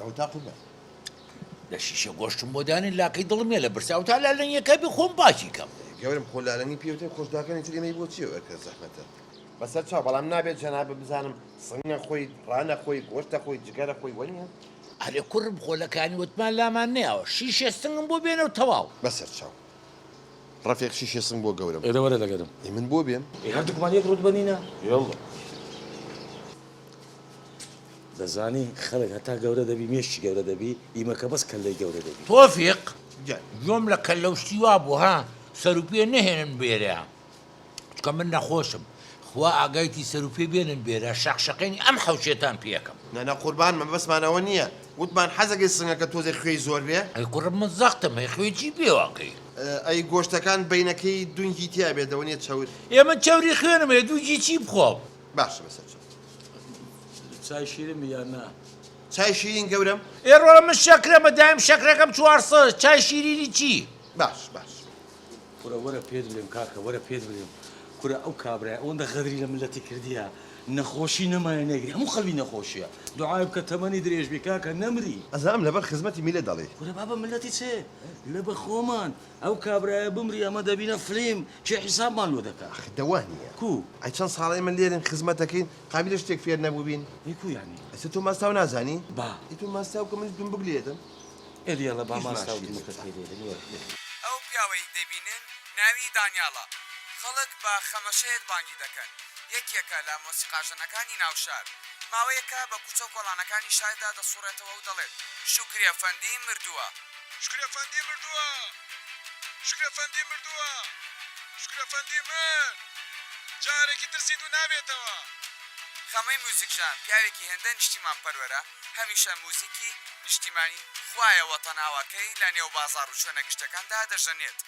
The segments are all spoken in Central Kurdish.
ئەوتا قوربان لە شیشە گۆشتم بۆ دانێ لاکەی دڵم یە لە برسا ئەوتا لالەنگیەکە بێ خۆم پاکی کەم. گەورەم خۆ لالەنگی پێوترێ خۆش داکانی تری مەی بۆ چیە ئەرکە زەحمەتە. بەسەر چاو بەڵام نابێت جەنابت بزانم سنگ نەخۆی ڕا نەخۆی گۆشت دەخۆی جگە دەخۆی وەنیە. ئەرێ کورم خۆ لە کانی وتمان لامان نەیاوە شیشێ سنگم بۆ بێنە و تەواو. بەسەر چاو. ڕەفیق شیشێ سنگ بۆ گەورەم. ئێرە وەرە لەگەرم. ئێ من بۆ بێم؟ ئێ هەردووکمان یەک ڕووت بەنینە. یەڵڵا. دەزانی خەڵک هەتا گەورە دەبی مێشکی گەورە دەبی ئیمە کە بەس کەللەی گەورە دەبی. تۆفیق گیان گوێم لە کەللە و شتی وا بوو ها سەروپێ نەهێنن بێرە. چونکە من نەخۆشم خوا ئاگایتی سەروپێ بێنن بێرە شەق شەقێنی ئەم حەوشێتان پێ ئەکەم. نەنە قوربان مەبەستمان ئەوە نیە وتمان حەزەکەی سنگەکە تۆزێ خوێی زۆر بێ. ئەی کوڕم من زەختم هەیە خوێ چی پێ ئەکەی. ئەی گۆشتەکان بەینەکەی دونگی تیا بێت لەوە نیە چەور. ئێ من چەوری خوێنم هەیە دووگی چی بخۆم. باشە بەسەر چۆ. چای شیرین بی یان نا. چای شیرین گەورەم. ئێ ڕۆڵە من شەکرەمە دایم شەکرەکەم چوار سەدە چای شیرینی چی. باش باش. کورە وەرە پێت بلێم کاکە وەرە پێت بلێم کورە ئەو کابرای ئەوەندە غەدری لە ملەتی کردیە نەخۆشی نەمایە نەیگری هەموو خەلکی نەخۆشیە دوعای بکە تەمەنی درێژ بی کاکە نەمری. ئەزانم لەبەر خزمەتی میلەت دەڵێی. کورە بابە ملەتی چێ لە بە خۆمان ئەو کابرایە بمری ئەمە دەبینە فلیم کێ حیسابمان لۆ دەکا. ئەخ دە وا نیە کوو. ئەی چەند ساڵە ئێمە لێرەین خزمەت دەکەین قابیلە شتێک فێر نەبووبین. ئەی کوو یانی. ئەسە تۆ ماستاو نازانی. با. ئەی تۆ ماستاو کە منیش بم بگلێدم. ئەو پیاوەی دەبینن ناوی دانیاڵە، خەڵک بە خەمەشێت بانگی دەکەن، یەکێکە لە مۆسیقاژەنەکانی ناو شار، ماوەیەکە بە کوچە و کۆڵانەکانی شاردا دەسوڕێتەوە و دەڵێت، شوکری ئەفەندی مردووە! شوکری ئەفەندی مردووە! شوکری ئەفەندی مردووە! شوکری ئەفەندی مرد! جارێکی تر زیندوو نابێتەوە! خەمەی موزیکژەن پیاوێکی هێندە نیشتیمانپەروەرە، هەمیشە موزیکی نیشتیمانی خوایە وەتەناوەکەی لە نێو بازاڕ و شوێنە گشتەکان دا دەژەنێت.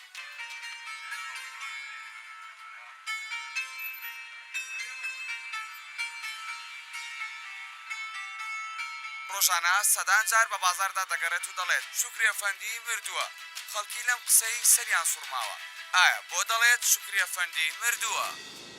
ڕۆژانە سەدان جار بە بازاڕ دا دەگەڕێت و دەڵێت، شوکری ئەفەندی مردووە. خەڵکی لەم قسەی سەریان سوڕماوە. ئایا بۆ دەڵێت شوکری ئەفەندی مردووە؟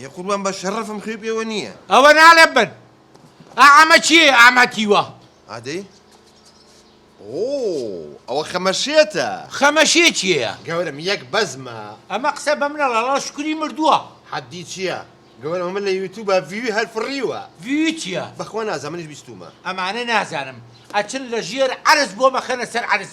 ئێ قوربان بە شەڕەفم خوێ پێوە نییە. ئەوە نالێم من. ئا ئەمە چییە ئەمە تیوە؟ ئادەی؟ ئۆ ئەوە خەمەشێتە. خەمەشێ چییە؟ گەورەم یەک بەزمە. ئەمە قسە بە منە ڵەڵا شکوری مردووە. حەدی چییە؟ گەورەم ئەمە لە یوتوبە ڤیوی هەر فڕیوە. ڤیوی چییە؟ بەخوا نازانم منیش بیستوومە. ئەمانە نازانم ئەچن لە ژێر عەرز بۆ مەخەنە سەر عەرز.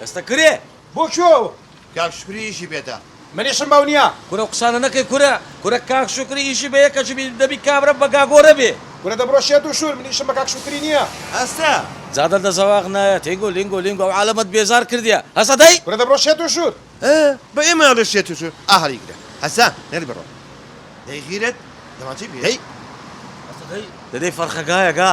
دەستە کرێ! بۆ کوێ ئەوە؟ کاک شوکری ئیشی پێتە. منیشم بەو نیە. کورە ئەو قسانە نەکەی کورە. کورە کاک شوکری ئیشی بە یەکە چبی دەبی کابرا بە گاگۆرە بێ. کورە دەبڕۆ شێت و شور من ئیشم بە کاک شوکری نیە. هەستە. جادە دە زەواق نایە تینگو لینگو لینگو ئەو عالەمەت بێزار کردیە هەسە دەی. کورە دەبڕۆ شێت و شور. ئە بە ئێمە ئەڵێ شێت و شور ئا هەڵی گرە هەسە نەری بڕۆ دەی غیرەت دەمانچەی پێ دەی. هەسە دەی دەدەی فەرخەگایە گا.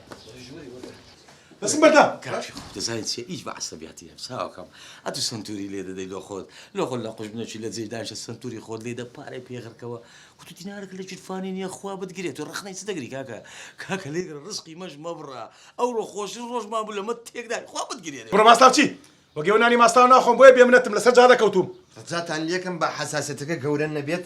بەسم بەردە کاکی خۆ دەزانیت چیە هیچ بە عەسەبیاتی هەم چاوەکەم ئەتو سنتوری لێ دەدەی لۆ خۆت لۆ خۆت لە قوش بنەچی لە جێی داشە سنتوری خۆت لێ دە پارەی پێغرکەوە کو تو دینارەکە لە جیرفانی نییە خوا بتگرێت و ڕخنەی چ دەگری کاکە کاکە لێ ڕزقی مەش مەبڕە ئەوڕۆ خۆشترین ڕۆژمان بوو لەمە تێکدا خوا بتگرێت بڕۆ ماستاو چی وەگەو نانی ماستاو ناخۆم بۆیە بێمنەتم لەسەر جادە کەوتووم. ڕجاتان لێکەم با حەساسیەتەکە گەورە نەبێت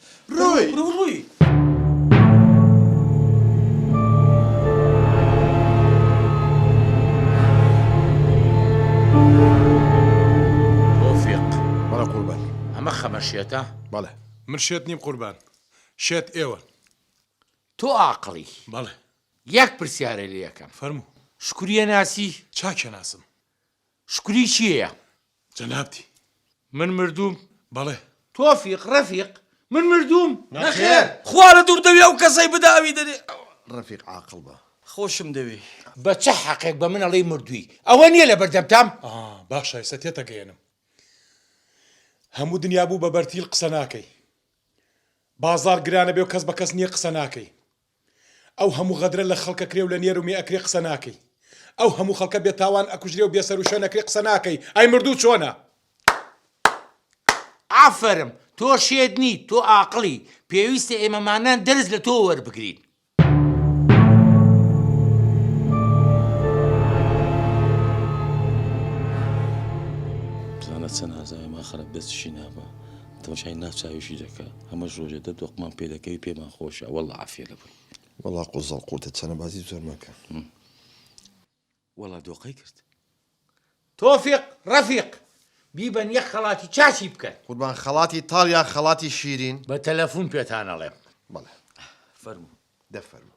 ڕووی! تۆفیق، بەڵێ قوربان، ئەمە خەمە شێتە؟ بەڵێ، من شێت نیم قوربان، شێت ئێوەن. تۆ ئاقڵی؟ بەڵێ. یەک پرسیارە لێ ئەکەم. فەرموو. شکوریە ناسی؟ چاکیان ناسم. شکری کێیە جەنابتی؟ من مردووم بەڵێ. تۆفیق، ڕەفیق، من مردووم نەخێر. خوا لە دوور دەوێ ئەو کەسەی بداوی دەرێ. ڕەفیق عاقڵ بە. خۆشم دەوێی. بە چ حەقێک بە من ئەڵێی مردووی؟ ئەوە نییە لە بەردەمتام؟ ئا باشە ئێستا تێتەگەیەنم. هەموو دنیا بوو بە بەرتیل قسە ناکەی. بازاڕ گرانە بێ و کەس بە کەس نییە قسە ناکەی. ئەو هەموو غەدرە لە خەڵک ئەکرێ و لە نێر و مێ ئەکرێ قسە ناکەی ئەو هەموو خەڵکە بێ تاوان ئەکوژرێ و بێ سەر و شوێن ئەکرێ قسە ناکەی ئەی مردوو چۆنە. ئافەرم تۆ شێت نیت تۆ ئاقڵی پێویستە ئێمەمانان دەرس لە تۆ وەربگرین. بزانە چەند ئازاوێ ماخەرە بێ چشی نابا. تەماشای نا چاویشی دەکا ئەمەش ڕۆژێ دە دۆقمان پێ دەکەوی پێمان خۆشە وەڵا عافیە لە بووی وەڵا قوزەڵ قوتە چەنە بازی زۆر مەکە وەڵا دۆقەی کرد. تۆفیق ڕەفیق بیبەن یەک خەڵاتی چاچی بکەن. قوربان خەڵاتی تاڵ یا خەڵاتی شیرین؟ بە تەلەفون پێتان ئەڵێم. بەڵێ. فەرموو. دە فەرموو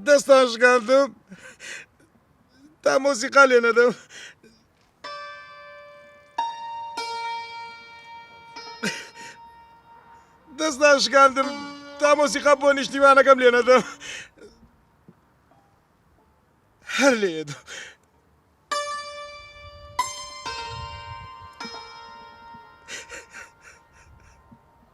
دەستان شکاندم تا مۆسیقا لێ نەدەم. دەست ناشکاندم تا مۆسیقا بۆ نیشتیمانەکەم لێ نەدەم هەر لێ دەم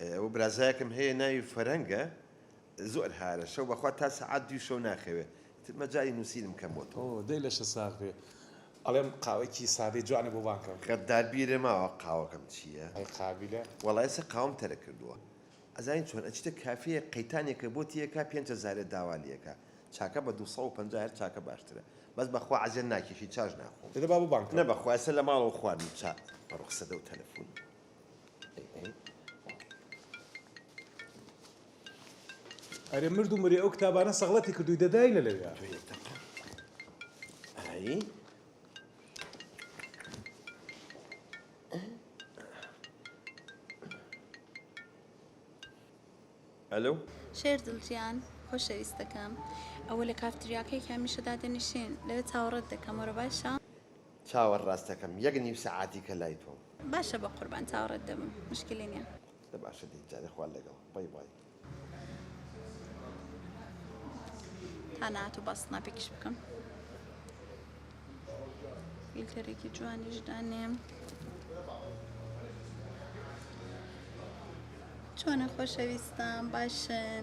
ئەوە برازایەکم هەیە ناوی فەرەنگە زۆر هارە شەو بەخوا تا سەعات دوی شەو ناخەوێ ئیتر مەجالی نوسینم کەم بۆ تۆ. ئۆ دەی لەشت ساغ بێ ئەڵێم قاوەیەکی سادەی جوانە بۆ بانگەم. غەدار بیرە ماوە قاوەکەم چیە. ئەی قابیلە. وەڵا ئێستا قاوەم تەرک کردووە. ئەزانی چۆن ئەچیتە کافێیەک قەیتانێکە بۆ تێیەکا پێنج هەزارێ داوا لێکا چاکە بە دوو سەد و پەنجا هەر چاکە باشترە بەس بەخوا عەزێت ناکێشی چاش ناخۆم. دەدە با بۆ بانگ کەم. نە بەخوا ئێستا لە ماڵەوە خواردم چا. بەڕۆ قسەدە و تەلەفون. ئەرێ مرد و مرێ ئەو کتابانە سەغڵەتی کردووی دەداینە لەوێ ئەلو شێر دڵجیان خۆشەویستەکەم ئەوە لە کافتریاکەی هەمیشە دادەنیشێن لەوێ چاوەڕێت دەکەم وەرە باشە چاوەڕاست دەکەم یەک نیو سەعاتیکە لای تۆم. باشە بەقوربان چاوەڕێت دەبم مشکلی نیە. دە باشە دەی جارێ خوا لەگەڵ بای بای. تا ناتو با سناپێکیش بکەم فیلتەرێکی جوانیش دانێم چۆنە خۆشەویستان باشن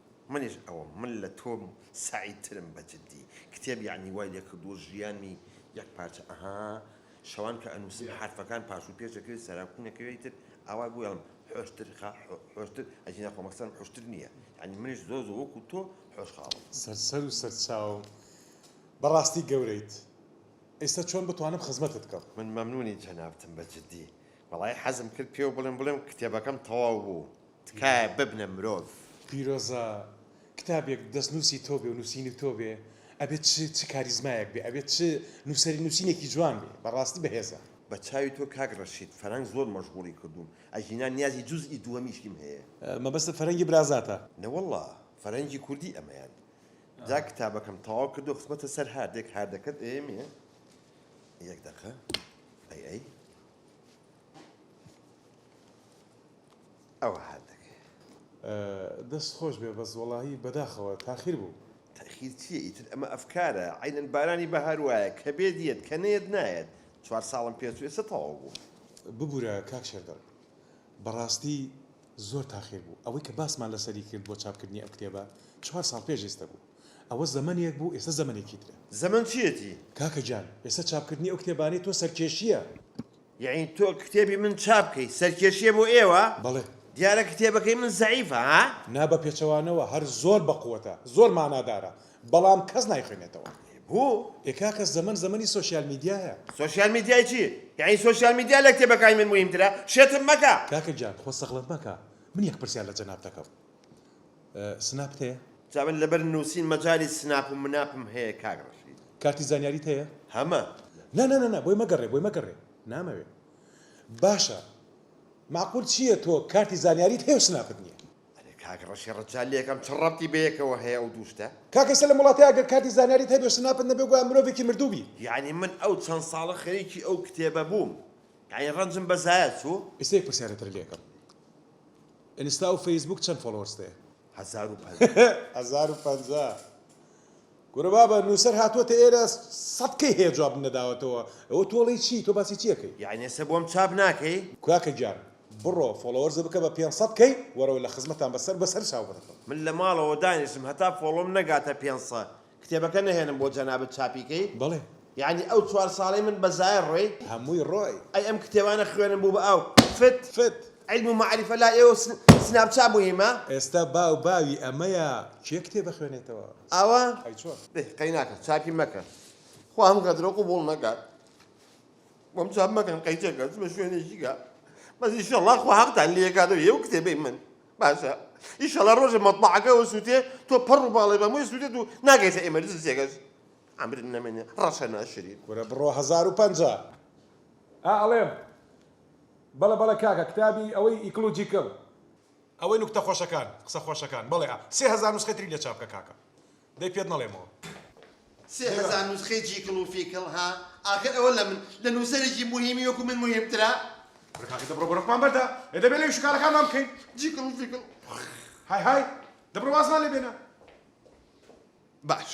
منیش ئەوم من لە تۆ سەعید ترم بە جدی کتێب یەعنی وای لێ کردووە ژیانی یەک پارچە ئەها شەوان کە ئەنووسم حەرفەکان پاش و پێش ئەکرێ سەرا کوون ئەکەوێ ئیتر ئاوا بوو یاڵم حۆشتر خا حۆشتر ئەجینا خۆ مەکسەرم حۆشتر نییە یەعنی منیش زۆر زۆر وەکوو تۆ حۆش خاڵم. سەر سەر و سەر چاو بەڕاستی گەورەیت ئیستا چۆن بتوانم خزمەتت کەم. من مەمنونی جەنابتم بە جدی. وەڵایی حەزم کرد پێو بڵێم بڵێم کتێبەکەم تەواو بوو. تکایە ببنە مرۆڤ. پیرۆزە کتابێک دەست نوسی تۆ بێ و نوسینی تۆ بێ ئەبێ چ چ کاریزمایەک بێ ئەبێ چ نوسەری نوسینێکی جوان بێ بەڕاستی بەهێزە. بە چاوی تۆ کاک ڕەشید فەرەنگ زۆر مەژغوڵی کردووم ئەگینا نیازی جوزئی دووەمیشیم هەیە. مەبەستت فەرەنگی برازاتە؟ نەوەڵا فەرەنگی کوردی ئەمەیان جا کتابەکەم تەواو کردو خستمەتە سەر هاردێک هاردەکەت ئێمێ یەک دەقە ئەی ئەی. ئەوە هات دەکەی. دەست خۆش بێ بەس وەڵاهی بەداخەوە تاخیر بوو. تاخیر چیە ئیتر ئەمە ئەفکارە عەینەن بارانی بەهار وایە کە بێت یەت کە نەیەت نایەت چوار ساڵم پێ چوو ئێستا تەواو بوو. ببورە کاک شێردەڵ بەڕاستی زۆر تاخیر بوو ئەوەی کە باسمان لەسەری کرد بۆ چاپ کردنی ئەم کتێبە چوار ساڵ پێش ئێستە بوو ئەوە زەمەنێک بوو ئێستە زەمەنێکی ترە. زەمەن چیەتی؟ کاکە گیان ئێستە چاپ کردنی ئەو کتێبانەی تۆ سەرکێشیە. یەعنی تۆ کتێبی من چاپ کەی سەرکێشیە بۆ ئێوە؟ بەڵێ. دیارە کتێبەکەی من زەعیفە ها؟ نا بە پێچەوانەوە هەر زۆر بە قوەتە زۆر مانادارە بەڵام کەس نایخوێنێتەوە. ئەرێ بۆ؟ ئێ کاکە زەمەن زەمەنی سۆشیال میدیایە. سۆشیال میدیای چی؟ یەعنی سۆشیال میدیا لە کتێبەکای من موهیمترە؟ شێتم مەکە. کاکە گیان خۆ سەغڵەت مەکە من یەک پرسیار لە جەناب دەکەم. سناپت هەیە؟ جا من لەبەر نوسین مەجالی سناپ و مناپم هەیە کاک ڕەشید. کارتی زانیاریت هەیە؟ هەمە. نا نا نا بۆی مەگەڕێ بۆی مەگەڕێ نامەوێ باشە مەعقول چیە تۆ کارتی زانیاریت هەیە و سناپت نیە؟ ئەرێ کاک ڕەشی ڕەجال لەکەم چ ڕەبتی بەیەکەوە هەیە ئەو دوو شتە؟ کاکە ئێستا لەم وڵاتە ئەگەر کارتی زانیاریت هەبێ و سناپت نەبێ گوایە مرۆڤێکی مردوو بی. یەعنی من ئەو چەند ساڵە خەریکی ئەو کتێبە بووم یەعنی ڕەنجم بەزایە چوو؟ ئێستا یەک پرسیارتر لێکەم. ئینستا و فەیسبووک چەند فۆڵۆوەرست هەیە؟ هەزار و پەنجا. هەزار و پەنجا کورە بابە نوسەر هاتوەتە ئێرە سەد کەی هەیە جوابم نەداوەتەوە ئەوە تۆڵەی چی تۆ باسی چی ئەکەی. یەعنی ئێستا بۆم چاپ ناکەی؟ کاکە گیان بڕۆ فۆڵۆوەرزە بکە بە پێنج سەد کەی وەرەوە لە خزمەتان بە سەر بە سەر چاو بەرەکەوە. من لە ماڵەوە دانیشتم هەتا فۆڵۆم نەگاتە پێنج سەد کتێبەکە نەهێنم بۆ جەنابت چاپی کەی؟ بەڵێ. یەعنی ئەو چوار ساڵەی من بە زایە ڕۆی؟ هەمووی ڕۆی. ئەی ئەم کتێبانە خوێنم بوو بە ئاو فت. فت. عیلم و مەعریفە لای ئێوە سناپچا موهیمە؟ ئێستا باو باوی ئەمەیە کێ کتێب ئەخوێنێتەوە؟ ئاوا؟ ئەی چۆن؟ دەی قەیناکە چاپی مەکە خوا ئەم غەدرە قبوڵ نەکات بۆم چاپ مەکەن قەیچەکە چ بە شوێنێکی کە بەس ئیشەڵا خوا هەقتان لێ ئەکاتەوە ئێوە کتێبەی من باشە ئیشەڵا ڕۆژێ مەتبەعەکە وەسووتێ تۆ پەڕ و باڵێ بە مووی سووتێت و ناگەیتە ئێمەرجنسیەکەش عەمرت نەمێنێ ڕەشە ناشرین. کورە بڕۆ هەزار و پەنجا. ئا ئەڵێم بەڵێ بەڵێ کاکە کتابی ئەوەی ئیکڵوجیکڵ. ئەوەی نوکتە خۆشەکان قسە خۆشەکان بەڵێ ئا سێ هەزار نوسخەی تری لێ چاپ کە کاکە. دەی پێت نەڵێمەوە. سێ هەزار نوسخەی جیکڵ و فیکڵ ها ئاخر ئەوە لە من لە نوسەرێکی موهیمی وەکو من موهیمترە. برا کاکە دەبڕۆ بەرەقمان بەردە ئێ دەبێ لێوی شکارەکانمان بکەین جیکڵ و فیکڵ های های دەبڕۆ وازمان لێ بێنە. باش.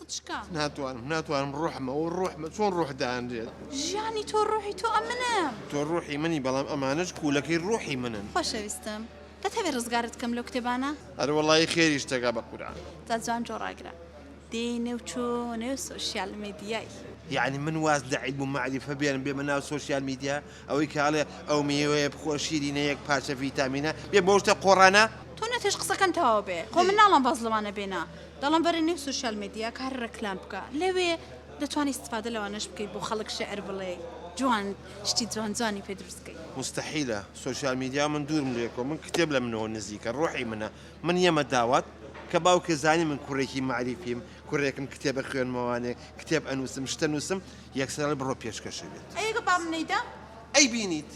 قوچکە. ناتوانم ناتوانم ڕوحمە و ڕوحمە چۆن ڕوح دانرێت. ژیانی تۆ ڕوحی تۆ ئەمنم. تۆ ڕوحی منی بەڵام ئەمانەش کوولەکەی ڕوحی منن. خۆشەویستم دەتەوێ ڕزگارت کەم لەو کتێبانە؟ ئەرە وەڵایی خێری شتەکە بە قورعان. جا جوان جۆ ڕاگرە دێی نێو چۆ نێو سۆشیال مێدیای. یەعنی من واز لە عیلم و مەعریفە بێنم بێمە ناو سۆشیال میدیا؟ ئەوەی کە ئەڵێ ئەو مێوەیە بخۆ شیرینە یەک پارچە ڤیتامینە بێ بۆ شتە قۆڕانە. تۆ نەتێش قسەکەن تەواو بێ خۆ من ناڵێم باس لەوانە بێنە دەڵێم بەرە نێو سۆشیال مێدیا کە هەر ڕێکلام بکە لەوێ دەتوانی استفادە لەوانەش بکەی بۆ خەڵک شێعر بڵێ جوان شتی جوان جوانی پێ دروست کەی. مستحیلە سۆشیال میدیا من دوورم لێ کۆ من کتێب لە منەوە نزیکە ڕۆحی منە من یەمە داوات کە باوکێ زانی من کوڕێکی مەعریفیم کوڕێکم کتێبە خوێنمەوانێ، کتێب ئەنووسم، شت ئەنووسم، یەکسەر ئەڵێ بڕۆ پێشکەشە بێت. ئەی ئەگە بام نەیدا؟ ئەیبینیت.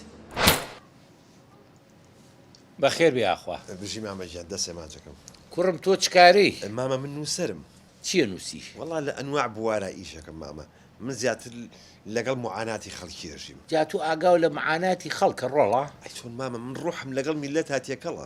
بەخێر بێی ئاخوا. بژی مامە گیان دەست ئەمانجەکەم. کوڕم تۆ چ کارەی؟ مامە من نووسەرم. چی ئەنووسی؟ وەڵا لە ئەنواع بوارا ئیش ئەکەم مامە، من زیاتر لەگەڵ موعاناتی خەڵکی ئەژیم. جا تۆ ئاگاو لە معاناتی خەڵکە ڕۆڵە؟ ئەی چۆن مامە من ڕوحم لەگەڵ میللەتا تێکەڵە.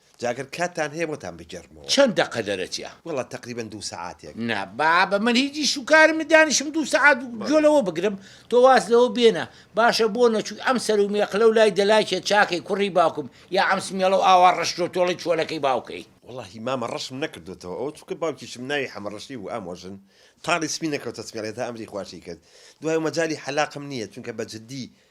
جا گەر کاتتان هەیە بۆتان بگێڕمەوە. چەند دەقە دەرەچیە؟ وەڵا تەقریبەن دوو سەعاتێک. نا بابە من هیچ ئیش و کارم نیە دانیشم دوو سەعات گوێ لەوە بگرم، تۆ واز لەوە بێنە باشە بۆ نەچووی ئەم سەر و مێقلە و لای دەلاکێ چاکەی کوڕی باوکم یا ئەم سمێڵە و ئاوا ڕەش تۆتۆڵەی چۆلەکەی باوکەی؟ وەڵاهی مامە ڕەشم نەکردۆتەوە ئەوە چونکە باوکیشم ناوی حەمە ڕەشی بوو ئامۆ ژن تاڵی سپی نەکەوتە سمێڵێ تا ئەمری خواشی کرد دوای مەجالی حەلاقم نیە چونکە بە جدی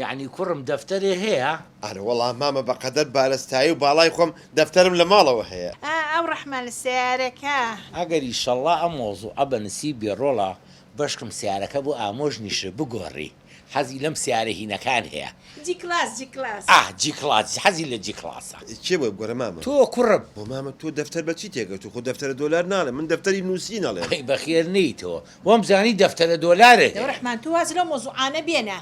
یەعنی کوڕم دەفتەرێ هەیە؟ ئەرە وەڵا مامە بەقەدەر بارستایی و باڵای خۆم دەفتەرم لە ماڵەوە هەیە. ئا ئەو ڕەحمە لە سەیارەکە. ئەگەر ئیشەڵا ئەم مەوزوعە بە نسیب بێ ڕۆڵە بەشکم سیارەکە بۆ ئامۆژ نیشر بگۆڕی حەزی لەم سیارە هینەکان هەیە. جی کڵاس جی کڵاس. ئاه جی کڵاس حەزی لە جی کڵاسە. کێ بۆی بگۆرێ مامە. تۆ کوڕم. بۆ مامە تۆ دەفتەر بە چی تێگەشتوو خۆ دەفتەرە دۆلار ناڵێ من دەفتەری نووسین ئەڵێم. ئەی بەخێر نێیتەوە وام زانی دەفتەرە دۆلارێ هەیە. دەوڕەحمان تۆ واز لەو مەوزوعانە بێنە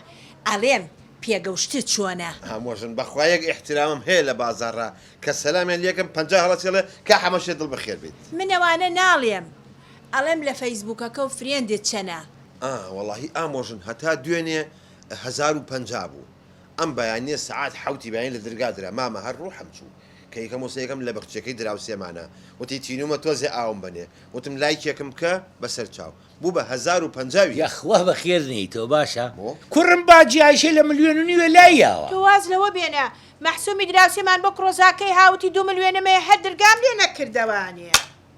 ئەلێم پێگەوشتت چۆنە. هەموو ژن بەخوا یەک ئیحترامم هەیە لە بازاڕا کە سەلامیان لێکەم پەنجا هەڵەچی ئەڵێ کا حەمەشێ دڵ بەخێر بیت. من ئەوانە ناڵێم ئەڵێم لە فەیسبوکەکەو فرێندت چەنە. ئا وەڵاهی ئامۆ ژن هەتا دوێنێ هەزار و پەنجا بوو ئەم بەیانیە سەعات حەوتی بەیانی لە درگا درا مامە هەر ڕوحم چوو. کە یەکەم وسەیەکەم لە بەخچیەکەی دراوسێمانە وتی تینومە تۆزێ ئاوم بەنێ وتم لایکێکم بکە بەسەر چاو بو بە هەزار و پەنجا وی. یەخوا بەخێر نێیتەوە باشە. بۆ؟ کوڕم باجی ئایشەی لە ملیۆن و نیوێ لای یاوە. تۆ واز لەوە بێنە مەحسومی دراوسێمان بۆ کڕۆزاکەی هاوتی دوو ملوێنم هەیە هەر درگام لێ نەکردەوانێ.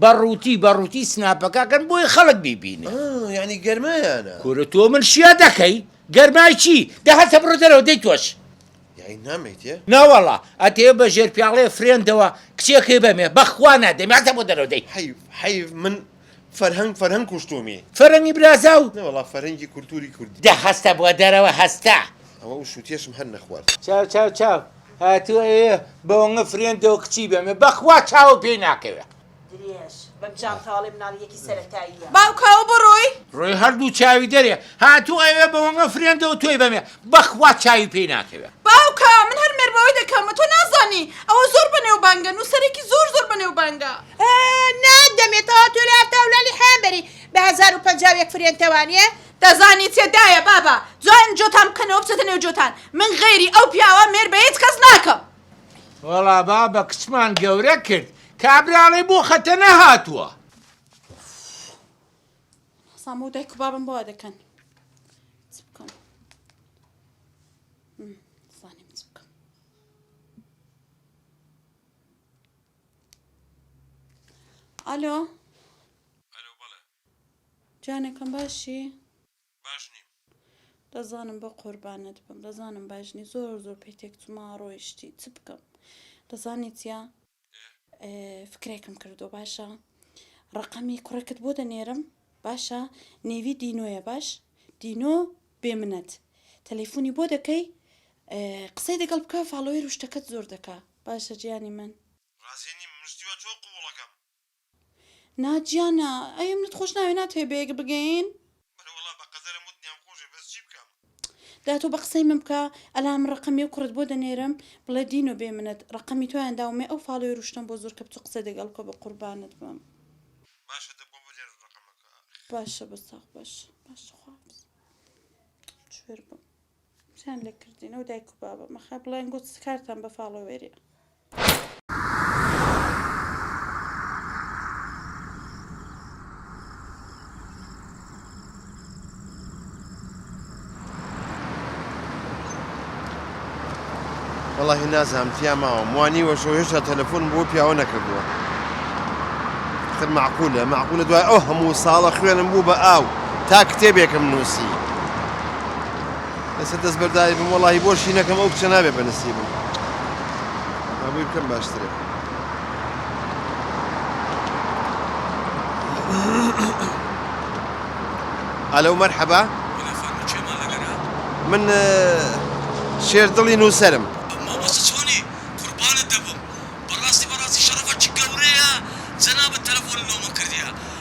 بە ڕووتی بە ڕووتی سناپەکە کەن بۆی خەڵک بیبینێ. ئا یانی گەرمایانە. کورە تۆ من شیا دەکەی؟ گەرمای چی؟ دە هەر تەبڕۆ دەرەوە دەی تۆش. یانی نامێیتێ؟ ناوەڵا ئەتەوێ بە ژێر پیاڵەیە فرێندەوە کچێکەی بەمێ بەخوا نادەی مە تەبۆ دەرەوە دەی. حەیف حەیف من فەرهەنگ فەرهەنگ کوشتومی. فەرەنگی برازاو؟ نەوەڵا فەرهەنگی کولتوری کوردی. دە هەستە بۆ دەرەوە هەستە. ئەوە ئوشوتیەشم هەر نەخوارد. چاو چاو چاو هاتوە ئێ بەوەنگە فرێندەوە کچی بەمێ بەخوا چاوم پێی ناکەوێ. درێژ بەم جانتاڵەی مناڵی یەکی سەرەتاییە. باوکاوە بۆ ڕۆی؟ ڕۆی هەر دوو چاوی دەرێ. هاتوو ئەوێ بەوەنگە فرێندەوە تۆی بەمێ بەخوا چاوی پێی ناکەوێ. باوکا من هەر مێربەوەی دەکەم تۆ نازانی ئەوە زۆر بەنێوبانگە نوسەرێکی زۆر زۆر بەنێوبانگە. ئە نا دەمێ تەوا تۆ لە ئەفتاو لالی حەیان بەری بە هەزار و پەنجا و یەک فرێندتەوانیە دەزانی تێدایە بابە جوان جۆتان بکەنەوە بچێتە نێو جۆتان من غەیری ئەو پیاوە مێر بە هیچ کەس ناکەم. وەڵا بابە کچمان گەورە کرد کابراڵێ بۆ خەتە نەهاتووە. سامۆ و دایک و بابم بۆ دەکەن چ بکەم زانیم چ بکەم ئالۆ جانەکەم باشی؟ باش نیم. دەزانم بە قوربانت بم دەزانم باش نی زۆر زۆر پێ تێکچوومە ڕۆیشتی چ بکەم دەزانی چیە فکرێکم کردووە باشە ڕەقەمی کوڕێکت بۆ دەنێرم باشە نێوی دینۆیە باش دینۆ بێ منەت تەلەفۆنی بۆ دەکەی قسەی دەگەڵ بکە فاڵۆوێر و شتەکەت زۆر دەکا باشە جیانی من ڕازی نیم مشتیوە تۆ قووڵەکەم نادیا نا ئەی منت خۆش ناوێ ناتوێ بەیەک بگەین. بەلە وەڵا بە قەدەرە موت نیام خۆشێ بەس جی بکەم. دا تۆ بە قسەی من بکە ئەلان من ڕەقەمی ئەو کوڕەت بۆ دەنێرم بڵێ دینۆ بێ منت ڕەقەمی تۆیان داوم مێ ئەو فاڵۆیە روشتەم بۆ زۆر کە بچۆ قسە دەگەڵ بکە بە قوربانت بم. باشە دە بۆ بنێرم ڕەقەمەکە ئەخ. باشە بەس ئاخ باشە باشە خوا حافیز. چوێر بم. چەند لە کردینەوە دایک و بابە مەخە بڵێن گوت کارتان بە فاڵۆوێری وڵی نازانم تیا ماوەم وانی وەشۆ هێشتا تەلەفۆن بۆ پیاوە نەکردووە تر معقولە معقولە دوای ئەو هەموو ساڵە خوێنم بوو بە ئاو تا کتێبێکم نووسی لەسەر دەست بەرداری بم وەڵی بۆشی نەکەم ئەو کچە نابێ بەنسی بم ئەبووی بکەم باشترە ئەلەو مەرحەبا من شێر دڵی نووسرم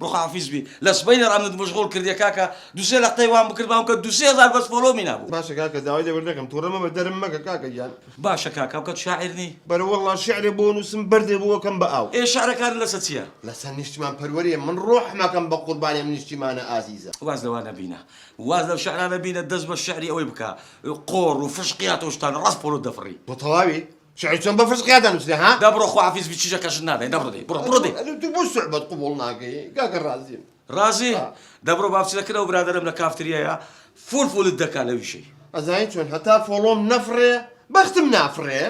بخوافیز بی لە سبەینێ ئەمنت مشغول کردیە کاکە دوو سێ لەقتەی وام بکرد بام کە دوو سێ هەزار بەس فۆلۆمی نابوو. باشە کاکە داوای لێبوردن دەکەم توڕە مەبە دەرم مەکە کاکە گیان. باشە کاکە ئەوکات شاعیر نی؟ بەرە وەڵا شعرێ بۆ نوسم بەردێ بۆ ئەکەم بە ئاو. ئێ شعرەکانت لەسە چیە؟ لەسەر نیشتیمان پەروەریە من ڕۆحم ئەکەم بە قوربانی ئەم نیشتیمانە ئازیزە. واز لەوا نەبینە واز لەو شعرانە بینە دەست بە شعری ئەوەی بکە قۆڕ و فشقیات و شتان ڕاست پۆلۆت دەفڕی. تۆ تەواوی؟ شعر چۆن بە فسقیا دەنووسرێ ها؟ دە بڕۆ خواحافیز بی چیژە کەشت نادەین دە بڕۆ دەی بڕۆ بڕۆ دەی. ئەتوو بۆ سوعبەت قبوڵ ناکەی کاکە ڕازیم. ڕازی؟ دە بڕۆ با بچینە کن ئەو برادەرەم لە کافتریایە فول فولت دەکا لە ویشەی. ئەزانی چۆن هەتا فۆڵۆم نەفڕێ بەختم نافڕێ؟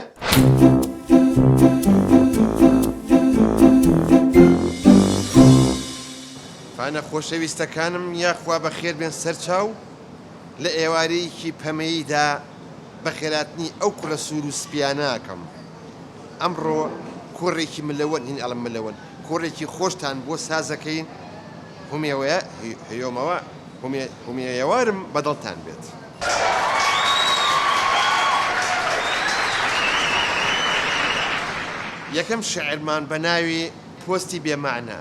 فانە خۆشەویستەکانم یاخوا بەخێربێن سەرچاو. لە ئێوارەیەکی پەمەییدا بە خێراتنی ئەو کوڕە سوور و سپییانە ئەکەم. ئەمڕۆ کۆڕێکی ملەوەن، هین ئەڵێم ملەوەن، کۆڕێکی خۆشتان بۆ ساز ئەکەین، هومێوەیە، هومێوارم بە دڵتان بێت. یەکەم شیعرمان بە ناوی پۆستی بێ مەعنا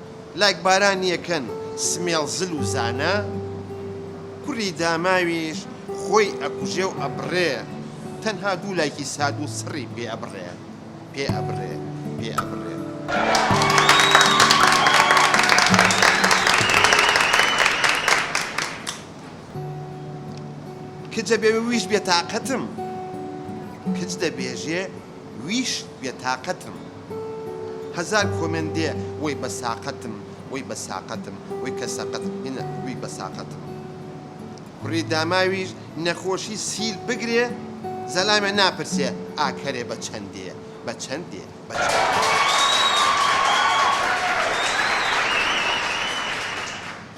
لایک باران یەکەن سمێڵ زل و زانا کوری داماویش خۆی ئەکوژێ و ئەبڕێ تەنها دوو لایکی ساد و سڕی پێ ئەبڕێ پێ ئەبڕێ پێ ئەبڕێ. کچە بێ ویژ بێ تاقەتم کچ دەبێژێ ویش بێ تاقەتم هەزار کۆمێنت دێ وەی بە ساقەتم وەی بە ساقەتم وەی کە سەقەتم هینە وی بە ساقەتم کوڕی داماویش نەخۆشی سیل بگرێ زەلامێ ناپرسێ ئاکەرێ بە چەند دێ بە چەند دێ بە چەند دێ.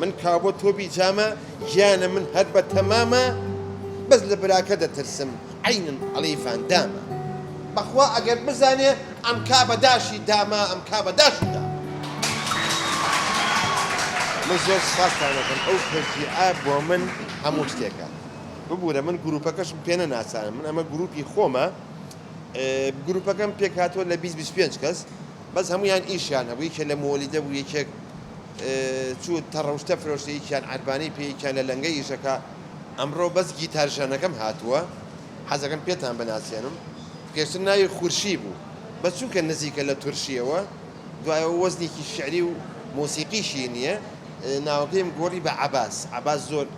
من کابۆ تۆ بیجامە گیانە من هەر بە تەمامە بەس لە براکە دەترسم عەینن ئەڵێی ڤاندامە بەخوا ئەگەر بزانێ ئەم کا بە داشی داما ئەم کا بە داشی داما. من زۆر سوپاستان ئەکەم ئەو تەشجیعە بۆ من هەموو شتێکە ببورە من گروپەکەشم پێ نەناسان من ئەمە گروپی خۆمە گروپەکەم پێکهاتووە لە بیست بیست پێنج کەس بەس هەموویان ئیشیان هەبوو یەکێ لە مووەلیدە بوو یەکێک چوو تەڕوشتە فرۆشتە یەکیان عەربانی پێ یەکیان لە لەنگە ئیشەکا ئەمڕۆ بەس گیتار ژەنەکەم هاتووە حەزەکەم پێتان بناسێنم پێشتر ناوی خورشی بوو بەس چونکە نزیکە لە تورشیەوە دوای ئەوە وەزنێکی شعری و مۆسیقیشی نییە ناوەکەیم گۆڕی بە عەباس عەباس زۆر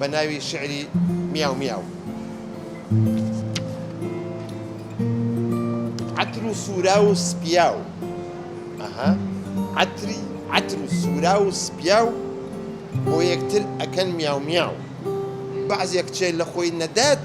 بە ناوی شیعری میاو میاو. عەتر و سوورا و سپیا و ئەها عەتری عەتر و سوورا و سپیا و بۆ یەکتر ئەکەن میاو میاو بەعزێک چێ لە خۆی نەدات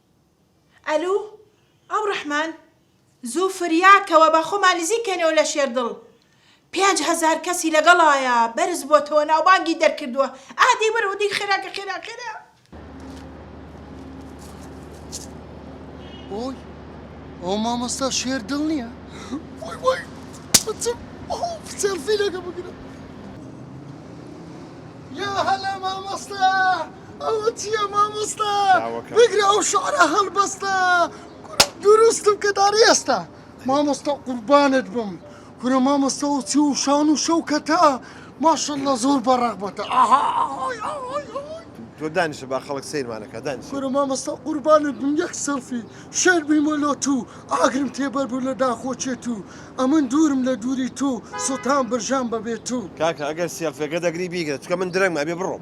ئەلو ئەم ڕەحمان زوو فریا کەوە با خۆمان نزیک کەینەوە لە شێردڵ پێنج هەزار کەسی لەگەڵایە بەرز بۆتەوە ناوبانگی دەرکردووە ئا دەی بەرەوە دەی خێرا کە خێرا خێرا ئۆی ئەو مامۆستا شێر دڵ نییە وای وای بچم سێلفی لەگە بگرە یا هەلا مامۆستا ئەوە چیە مامۆستا بگرە ئەو شعرە هەڵبەستە دروست بکە داری ئێستا مامۆستا قوربانت بم کورە مامۆستا و چی و شان و شەوکەتە ماشەڵە زۆر بە ڕەغبەتە ئاها تۆ دانیشە با خەڵک سیرمانەکە دانیش کورە مامۆستا قوربانت بم یەک سەلفی شێر بیمە لۆ تو ئاگرم تێبەر بوو لە داخۆچێت و ئەمن دوورم لە دووری تو سوڵتان برژان بەبێت تو کاکە ئەگەر سێلفێکە دەگری بیگرە چکە من درەنگمە ئەبێ بڕۆم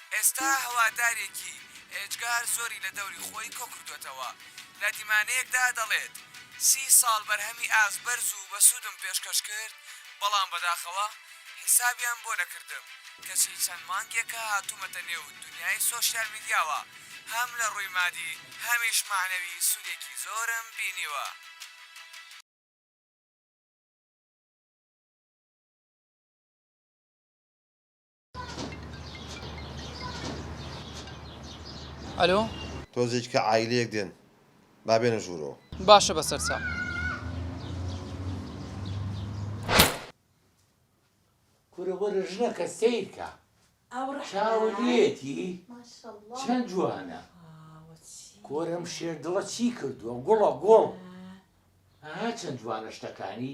ئێستا هەوادارێکی ئێجگار زۆری لە دەوری خۆی کۆکردۆتەوە، لە دیمانەیەکدا دەڵێت، سی ساڵ بەرهەمی ئاست بەرز و بەسوودم پێشکەش کرد، بەڵام بەداخەوە حیسابیان بۆ نەکردم، کەچی چەند مانگێکە هاتوومەتە نێو دونیای سۆشیال میدیاوە، هەم لە ڕووی مادی هەمیش مەعنەوی سوودێکی زۆرم بینیوە. ئەلۆ. تۆزێک کە عایلەیەک دێن با بێنە ژوورەوە. باشە بەسەر چاو. کورە وەرە ژنەکە سەیر کە چاوەێتی چەند جوانە کۆرم شێردڵە چی کردووە گوڵە گۆڵ چەند جوانە شتەکانی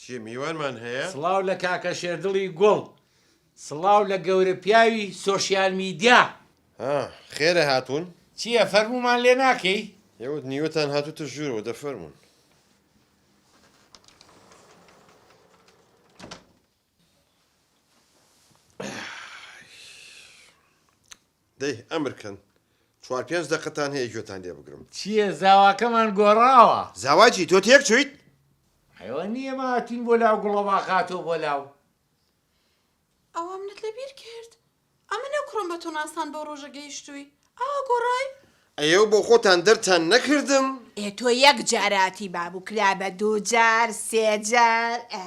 چیە میوانمان هەیە؟ سڵاو لە کاکە شێردڵی گوڵ. سڵاو لە گەورە پیاوی سۆشیال میدیا. ها خێرە هاتوون؟ چیە فەرموومان لێ ناکەی؟ ئێوە نیوەتان هاتووتە ژوورەوە دە فەرموون. دەی ئەمر کەن چوار پێنج دەقەتان هەیە گوێتان لێ بگرم. چییە زاواکەمان گۆڕاوە. زاوا چی تۆ تێک چوویت. ئەوە نییە ئێمە هاتووین بۆ لاو گوڵەباخ هاتووە بۆ لاو. ئەوە منت لە بیر کرد ئەمنە کوڕم بە تۆ ناسان بەو ڕۆژە گەیشتووی ئاوا گۆڕای. ئەیەو بۆ خۆتان دەرتان نەکردم؟ ئێ تۆ یەک جاراتی بابو کرا بە دوو جار سێ جار ئە.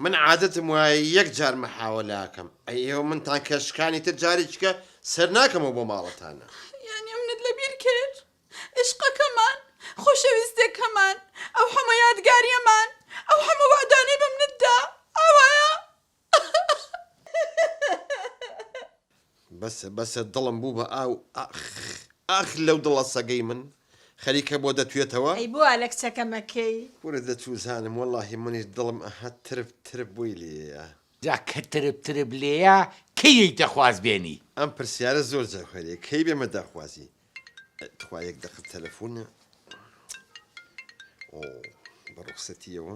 من عادەتم وایە یەک جار محاوەلە ئەکەم ئەیەو منتان کە شکانی تر جاریکە سەر ناکەمەوە بۆ ماڵتانا. یانی منت لە بیر کرد ئیشقەکەمان خۆشەویستێکەمان ئەو حەمە یادگاریەمان ئەو حەمە وەعدانەی بە منت دا ئاوایە. بەسە بەسە دڵم بوو بە ئاو ئاخ ئاخ لەو دڵە سەگەی من خەریکە بۆ دەتوێتەوە. ئەی بۆ وا لە کچەکەم ئەکەی. کورە دەتوزانم وەڵاهی منیش دڵم ئەها ترپ ترپ بۆی لێیە. جا کە ترپ ترپ لێیە کەی یەیتە خوازبێنی. ئەم پرسیارە زۆر جەوهەریە کەی بێمە داخوازی تخوا یەک دەقە تەلەفونە ئۆ بە ڕوخسەتیەوە.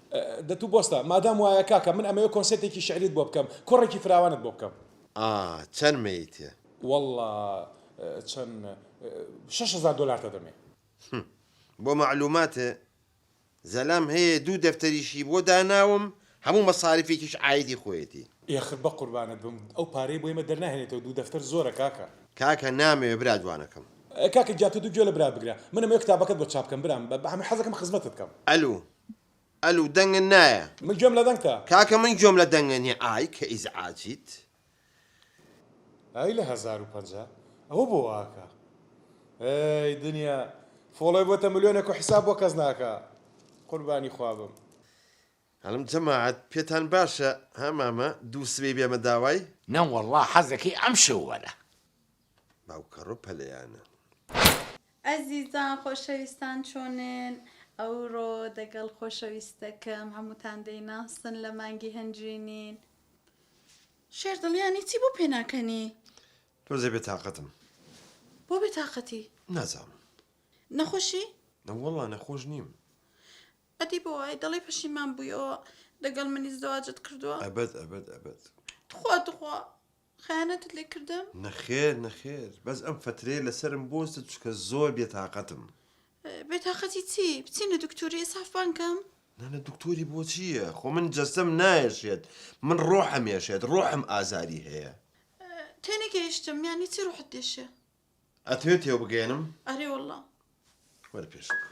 دەتوو بۆستە مادام وایە کاکە من ئەمەوێ کۆنسێرتێکی شعریت بۆ بکەم کۆڕێکی فراوانت بۆ بکەم. ئا چەن مەیتێ. وەڵا چەن شەش هەزار دۆلارتە دەمێ. هم بۆ مەعلوماتت زەلام هەیە دوو دەفتەریشی بۆ داناوم هەموو مەساریفێکیش عایدی خۆیەتی. ئێخر بەقوربانت بم ئەو پارەی بۆ ئێمە دەرناهێنێتەوە دوو دەفتەر زۆرە کاکە. کاکە نامەوێ برا جوانەکەم. کاکە گیان تۆ دوو گوێ لە برات بگرە من ئەمەوێ کتابەکەت بۆ چاپ بکەم برام حەزەکەم خزمەتت کەم. ئەلو ئەلو دەنگن نایە. من گوێم لە دەنگتە. کاکە من گوێم لە دەنگە نیە ئای کە ئیزعاجیت. ئای لە هەزار و پەنجا ئەوە بۆ واکا ئەی دنیا فۆڵۆی بۆتە ملیۆنێک و حیساب بۆ کەس ناکا قوربانی خوا بم. هەلم جەماعەت پێتان باشە ها مامە دوو سبەی بێمە داوای. نەوەڵا حەزەکەی ئەم شەو وەرە. باوکەڕۆ پەلەیانە. ئەزیزان خۆشەویستان چۆنن؟ ئەوڕۆ دەگەڵ خۆشەویستەکەم هەمووتان دەیناسن لە مانگی هەنجوینین. شێر دڵ یانی چی بۆ پێناکەنی؟ تۆزێ بێ تاقەتم. بۆ بێ تاقەتی؟ نازانم. نەخۆشی؟ نەوەڵا نەخۆش نیم. ئەدی بۆ وای دەڵێی پەشیمان بوویەوە دەگەڵ منی زەواجت کردووە؟ ئەبەد ئەبەد ئەبەد. تخوا تخوا خەیانەتت لێ کردم؟ نەخێر نەخێر بەس ئەم فەترەیە لەسەرم بۆستە چونکە زۆر بێتاقەتم. بێتاقەتی چی؟ بچینە دکتۆری ئیسافمان کەم؟ نانە دکتۆری بۆچییە خۆ من جەستەم نایەشێت من ڕۆحم یەشێت ڕۆحم ئازاری هەیە. تێنەگەیشتم یانی چی ڕۆحت دێشێ؟ ئەتەوێت تێوبگەیەنم؟ ئەرێ وەڵڵا. وەرە پێش بکە.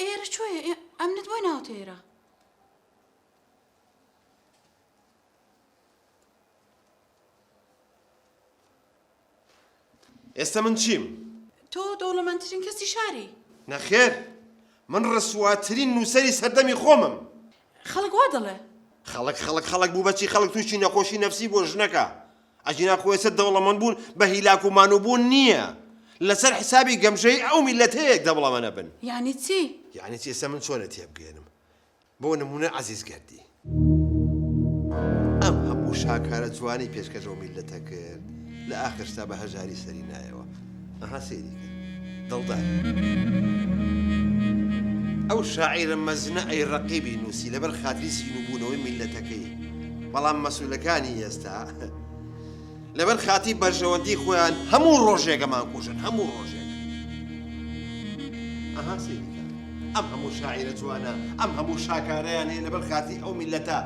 ئێرە چۆیە ئەمنت بۆی ناوتە ئێرە ئێستا من چیم؟ تۆ دەوڵەمەندترین کەسی شاری نەخێر من ڕسواترین نووسری سەردەمی خۆمم خەڵک وا دەڵێ خەڵک خەڵک خەڵک بوو بەچی خەڵک تووشی نەخۆشی نەفسی بۆ ژنەکە ئەگینا خوێسە دەوڵەمەنبوون بە هیلاک و مانووبوون نییە. لەسەر حسابی گەمژەیی ئەو میللەتەیە دەوڵەمەنە بن. یانی چی؟ یانی چی ئێستا من چۆن لێت تێبگەیەنم؟ بۆ نموونە عەزیز گەردی. ئەم هەموو شاکارە جوانەی پێشکەش بەو میللەتە کرد، لە ئاخرشدا بە هەژاری سەری نایەوە. ئەها سەیری کە دڵداری. ئەو شاعیرە مەزنە ئەی ڕەقیبی نووسی لەبەر خاتری سین و بوونەوەی میللەتەکەی بەڵام مەسولەکانی ئێستا لەبەر خاتری بەرژەوەندی خۆیان هەموو ڕۆژێکەمان کوژن هەموو ڕۆژێک ئەها سەیری کە ئەم هەموو شاعیرە جوانە ئەم هەموو شاکارەیان هەیە لەبەر خاتری ئەو میللەتە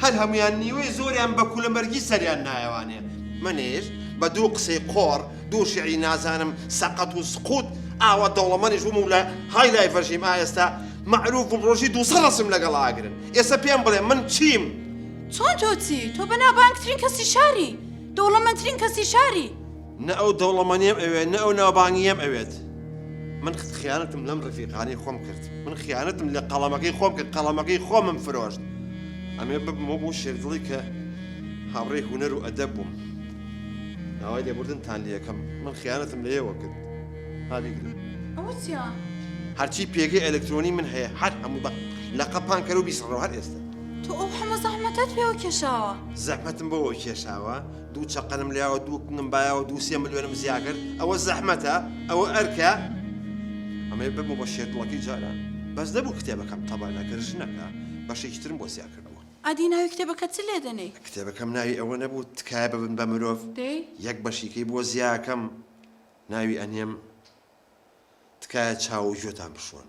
هەر هەموویان نیوەی زۆریان بە کولەمەرگی سەریان نایەوانێ. منیش بە دوو قسەی قۆڕ، دوو شیعری نازانم سەقەت و سقووت ئاوا دەوڵەمەنیش بووم و لە های لایڤ ژیم، ئا ئێستا مەعرووف بووم ڕۆژی دوو سەد ڕەسم لەگەڵ ئاگرن. ئێستا پێم بڵێ من چیم؟ چۆن تۆ چی؟ تۆ بەناوبانگترین کەسی شاری، دەوڵەمەندترین کەسی شاری. نە ئەو دەوڵەمەنیەم ئەوێت نە ئەو ناوبانگیەم ئەوێت من خیانەتم لەم ڕفیقانەی خۆم کرد من خیانەتم لە قەڵەمەکەی خۆم کرد قەڵەمەکەی خۆمم فرۆشت ئەمێ ببمەوە بۆ شێرگڵی کە هاوڕێی هوەر و ئەدە بووم داوای لێبوردنتان لەکەم من خیانەتم لێەوە کرد هاگرن هەرچی پێگەی ئەلکترۆنی من هەیە هەر هەموو بە لە قەپان کەرو بیسڕەوە هەر ئێستا تۆ ئەو حەمە زەحمەتت پێوە کێشاوە زەحمەتم بۆەوە کێشاوە دوو چەقەنم لایەوە دوو کنم بایەوە دوو سێ ملیۆنم زیا کرد ئەوە زەحمەتە ئەوە ئەرکە ئەمەی بەمە بە شێردڵەکەی جاران بەس نەبوو کتێبەکەم تەبا نەکرد ژنەکە بەشێکی ترم بۆ زیا کردەوە ئەدی ناوی کتێبەکە چ لێ دەنێی؟ کتێبەکەم ناوی ئەوە نەبوو تکایە ببن بە مرۆڤ دەی؟ یەک بەشیکەی بۆ زیاکەم ناوی ئەنێم تکایە چاو و گوێتان بشۆن.